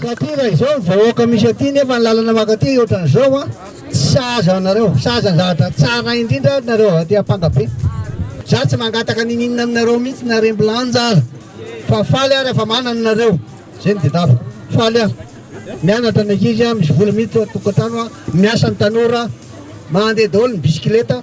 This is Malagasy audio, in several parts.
Satria raha izao ny vahoaka misy aty nefa ny lalana maka aty ohatrany izao an, tsy sahaza anareo, sahaza ny zavatra tsara indrindra ary nareo aty ampangabe. Za tsy mangataka ninininona aminareo mihitsy na rembilanja aza fa faly aho rehefa manana nareo, zay no dedaviko, faly aho mianatra ny ankizy, misy vola mihitsy ao tokantrano, miasa ny tanora, mandeha daholo ny bisikileta.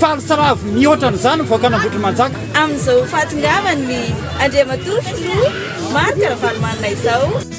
Faly sy ravo mihoatra ny zany mivoaka an'Ambohitrimanjaka. Amin'izao fahatongavan'ny Andriamatoa Filoha Marc Ravalomanana izao.